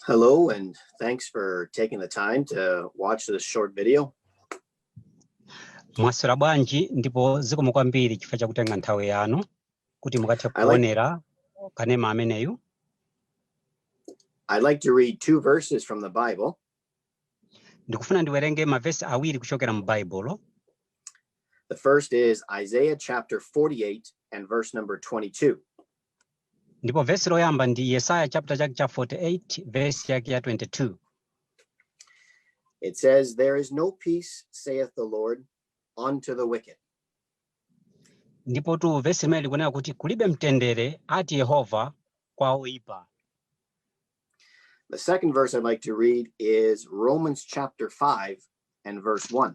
Hello, and thanks for taking the time to watch this short video. mwaswera bwanji ndipo zikomo kwambiri chifukwa chakutenga nthawi yanu kuti mukathe kuonera kanema ameneyu I'd like to read two verses from the Bible. ndikufuna ndiwerenge mavesi awiri kuchokera mu baibulo The first is Isaiah chapter 48 and verse number 22. ndipo vesi loyamba ndi yesaya chapter chake cha 48 vesi yake ya 22 It says, There is no peace, saith the Lord, unto the wicked. ndipotu vesi limeneli likunena kuti kulibe mtendere ati yehova kwa oyipa The second verse I'd like to read is Romans chapter 5 and verse 1.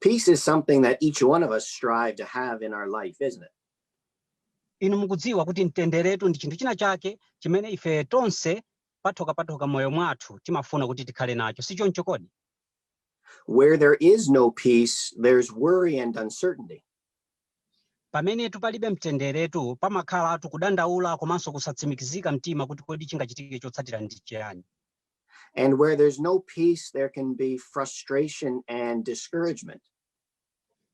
Peace is something that each one of us strive to have in our life, isn't it? inu mukudziwa kuti mtenderetu ndi chinthu china chake chimene ife tonse patokha patokha m'moyo mwathu timafuna kuti tikhale nacho si choncho kodi Where there is no peace, there's worry and uncertainty. pamenetu palibe mtenderetu pamakhalatu kudandaula komanso kusatsimikizika mumtima kuti kodi chingachitike chotsatira ndi chiyani And where there's no peace, there can be frustration and discouragement.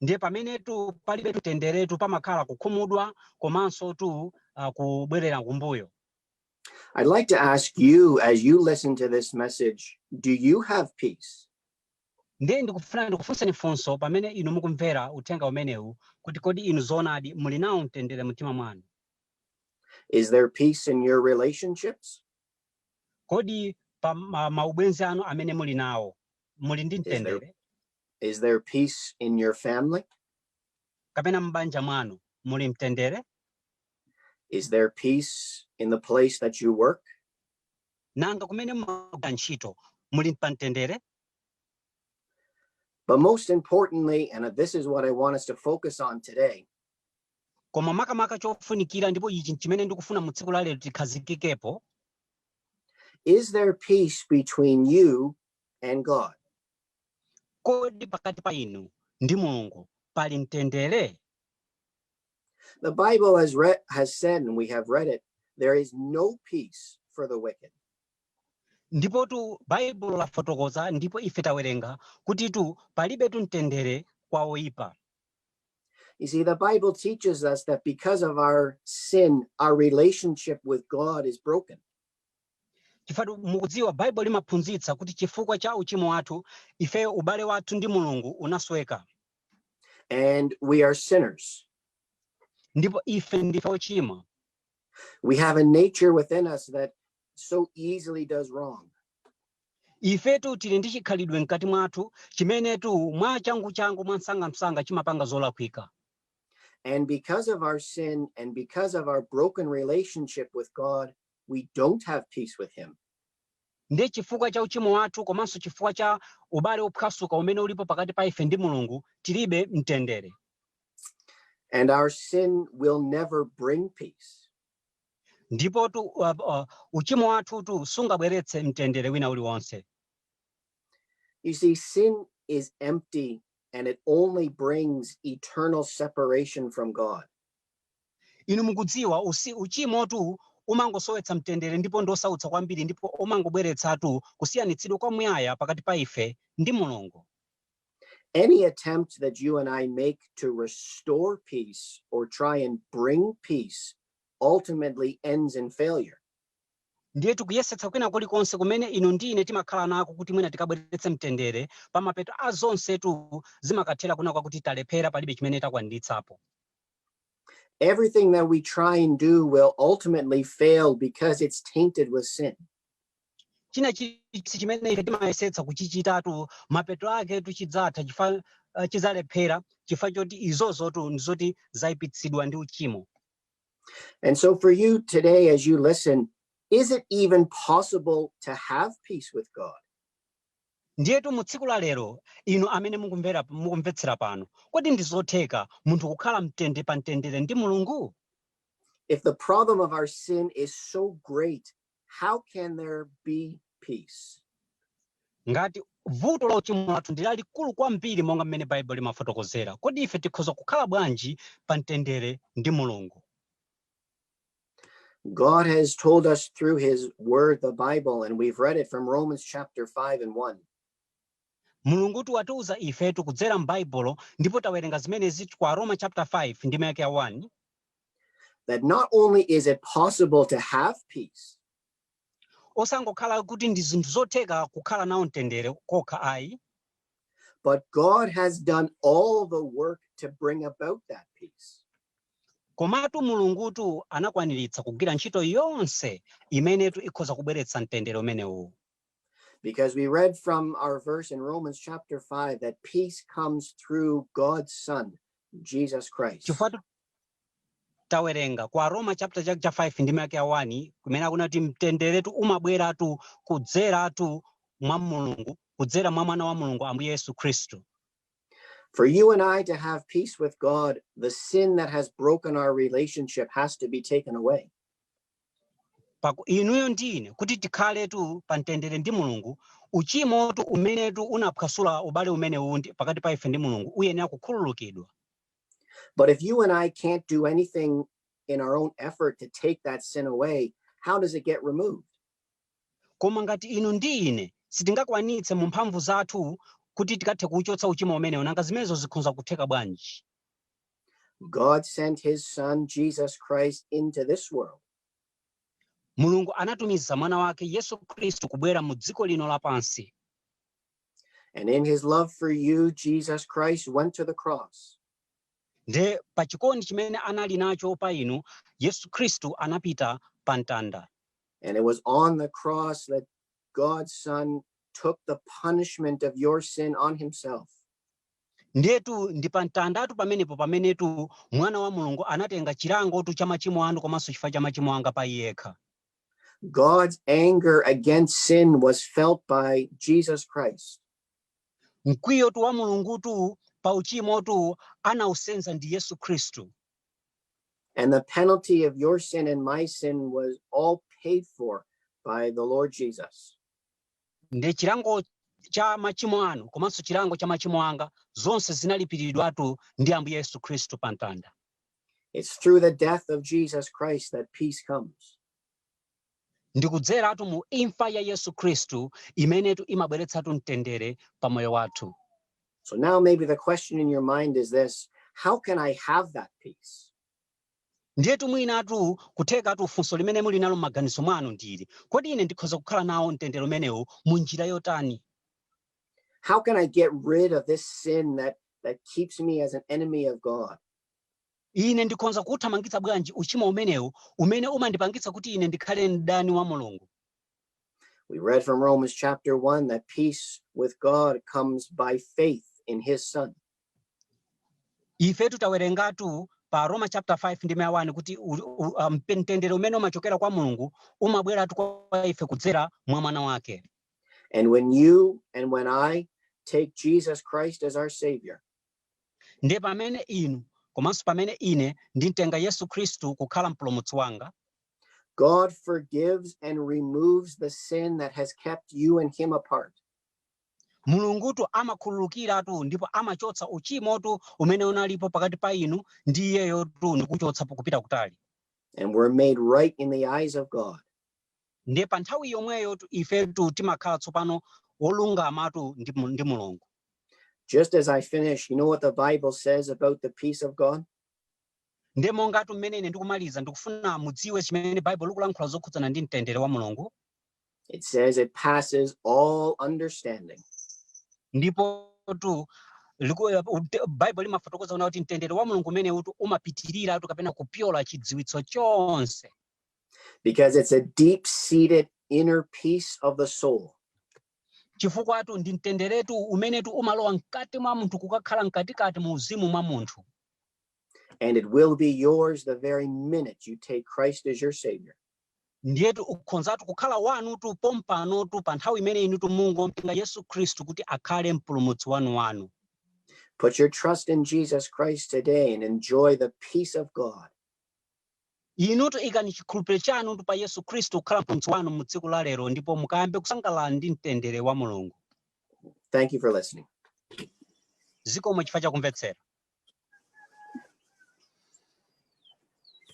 ndiye pamenetu palibe mtenderetu pamakhala kukhumudwa komansotu uh, kubwerera kumbuyo I'd like to ask you, as you listen to this message, do you have peace? ndiye ndikufuna ndikufunseni funso pamene inu mukumvera uthenga umenewu kuti kodi inu zoonadi muli nawo mtendere mumtima mwanu Is there peace in your relationships? Kodi pa ma- maubwenzi anu amene muli nawo muli ndi mtendere? Is there peace in your family? Kapena m'banja mwanu muli mtendere? Is there peace in the place that you work? Nanga kumene mumagwira ntchito muli pa mtendere? But most importantly, and this is what I want us to focus on today, Koma makamaka chofunikira, ndipo ichi n'chimene ndikufuna mu tsiku la lero tikhazikikepo. Is there peace between you and God? Kodi pakati pa inu ndi Mulungu pali mtendere? The Bible has read, has said, and we have read it, there is no peace for the wicked. Ndipotu Baibulo lafotokoza ndipo ife tawerenga kutitu palibetu mtendere kwa oipa. You see, the Bible teaches us that because of our sin, our relationship with God is broken. chifukwatu mukudziwa baibulo limaphunzitsa kuti chifukwa cha uchimo wathu ifeyo ubale wathu ndi mulungu unasweka And we are sinners. ndipo ife ndife ochimwa We have a nature within us that so easily does wrong. Ifetu tili ndi chikhalidwe mkati mwathu chimenetu mwachanguchangu, mwamsangamsanga chimapanga zolakwika. And because of our sin and because of our broken relationship with God, we don't have peace with Him. Ndiye chifukwa cha uchimo wathu komanso chifukwa cha ubale wophwasuka umene ulipo pakati pa ife ndi Mulungu, tilibe mtendere. And our sin will never bring peace. Ndipotu, uh, uh, uchimo wathutu sungabweretse mtendere wina uliwonse. You see, sin is empty and it only brings eternal separation from God. Inu mukudziwa usi uchimotu umangosowetsa mtendere ndipo ndosautsa kwambiri ndipo umangobweretsatu kusiyanitsidwa kwamuyaya pakati pa ife ndi Mulungu. Any attempt that you and I make to restore peace or try and bring peace ultimately ends in failure. ndiye kuyesetsa kwina kulikonse kumene inu ndi ine timakhala nako kuti mwina tikabweretse mtendere pamapeto a zonsetu zimakathera kunena kwakuti talephera palibe chimene takwaniritsapo Everything that we try and do will ultimately fail because it's tainted with sin. china chilichonse chimene ife timayesetsa kuchichitatu mapeto aketu chidzatha chifa uh, chidzalephera chifukwa choti izozo tu ndizoti zayipitsidwa ndi uchimo And so, for you today, as you listen, is it even possible to have peace with God? ndiyetu mu tsiku la lero inu amene mukumvera mukumvetsera pano kodi ndi zotheka munthu kukhala mtende pa mtendere ndi mulungu If the problem of our sin is so great how can there be peace? ngati vuto la uchimo lathu ndi lalikulu kwambiri monga mmene baibulo limafotokozera kodi ife tikhoza kukhala bwanji pa mtendere ndi mulungu God has told us through his word, the Bible, and we've read it from Romans chapter 5 and 1. mulungutu watiuza ifetu kudzera m'baibulo ndipo tawerenga zimenezitu kwa aroma chapter 5 ndime yake ya 1 that not only is it possible to have peace, osangokhala kuti ndi zinthu zotheka kukhala nawo mtendere kokha ayi but God has done all the work to bring about that peace. komatu mulungutu anakwaniritsa kugwira ntchito yonse imenetu ikhoza kubweretsa mtendere umenewu Because we read from our verse in Romans chapter 5 that peace comes through God's Son, Jesus Christ. chifukwa tu- tawerenga kwa aroma chapter chake cha 5 ndime yake ya 1 kumene akunena kuti mtenderetu umabweratu kudzeratu mwa mulungu kudzera mwa mwana wa mulungu ambuye yesu khristu For you and I to have peace with God, the sin that has broken our relationship has to be taken away. pa ku- inuyo ndi ine kuti tikhaletu pa mtendere ndi mulungu uchimotu umenetu unaphwasula ubale umenewu ndi- pakati pa ife ndi mulungu uyenera kukhululukidwa But if you and I can't do anything in our own effort to take that sin away, how does it get removed? koma ngati inu ndi ine sitingakwanitse mu mphamvu zathu kuti tikathe kuuchotsa uchimo umenewu nanga zimenezo zikhonza kutheka bwanji God sent his son Jesus Christ into this world mulungu anatumiza mwana wake yesu khristu kubwera mu dziko lino lapansi and in his love for you Jesus Christ went to the cross nde pa chikondi chimene anali nacho pa inu yesu khristu anapita pa mtanda and it was on the cross that God's son took the punishment of your sin on himself Ndiyetu ndi pa mtandatu pamenepo pamenetu Mwana wa Mulungu anatenga chilangotu cha machimo anu komanso chifukwa cha machimo anga pa Iye yekha. God's anger against sin was felt by Jesus Christ. Mkwiyotu wa Mulungutu pa uchimotu anausenza ndi Yesu Khristu. And the penalty of your sin and my sin was all paid for by the Lord Jesus. Ndiye chilango cha machimo anu komanso chilango cha machimo anga zonse zinalipiridwatu ndi Ambuye Yesu Khristu pa mtanda. It's through the death of Jesus Christ that peace comes. Ndi kudzeratu mu imfa ya Yesu Khristu imenetu imabweretsatu mtendere pa moyo wathu. So now maybe the question in your mind is this, how can I have that peace? Ndiyetu mwinatu, kuthekatu funso limene muli nalo m'maganizo mwanu ndi ili, Kodi ine ndikhoza kukhala nawo mtendere umenewu mu njira yotani? How can I get rid of this sin that, that keeps me as an enemy of God? Ine ndikhonza kuuthamangitsa bwanji uchimo umenewu umene umandipangitsa kuti ine ndikhale mdani wa Mulungu? We read from Romans chapter 1 that peace with God comes by faith in his son. ifetu tawerengatu pa aroma chapter 5 ndime ya 1 kuti u- u- uh, mpe- mtendere umene umachokera kwa mulungu umabweratu kwa ife kudzera mwa mwana wake And when you and when I take Jesus Christ as our Savior, ndiye pamene inu komanso pamene ine ndimtenga yesu khristu kukhala mpulumutsi wanga God forgives and removes the sin that has kept you and Him apart. Mulungutu amakhululukiratu ndipo amachotsa uchimotu umene unalipo pakati pa inu ndi Iyeyotu ndi kuuchotsa kupita kutali. And we're made right in the eyes of God. Ndiye pa nthawi yomweyotu ifetu timakhala tsopano wolungamatu ndi Mulungu. Just as I finish, you know what the Bible says about the peace of God? Ndiye mongatu mmene ine ndikumaliza ndikufuna mudziwe chimene Baibulo likulankhula zokhudzana ndi mtendere wa Mulungu. It says it passes all understanding. ndipotu liku- ut- baibulo limafotokoza kuti mtendere wa mulungu umenewutu umapitiriratu kapena kupyola chidziwitso chonse because it's a deep seated inner peace of the soul. chifukwatu ndi mtenderetu umenetu umalowa mkati mwa munthu kukakhala mkatikati mu uzimu mwa munthu And it will be yours the very minute you take Christ as your Savior. Ndiyetu ukhonzatu kukhala wanutu pompanotu pa nthawi imene inutu mungomtenga Yesu Khristu kuti akhale Mpulumutsi wanuwanu. Put your trust in Jesus Christ today and enjoy the peace of God. Inutu ikani chikhulupiriro chanutu pa Yesu Khristu kukhala Mpulumutsi wanu mu tsiku la lero ndipo mukayambe kusangalala ndi mtendere wa Mulungu. Thank you for listening. Zikomo chifukwa cha kumvetsera.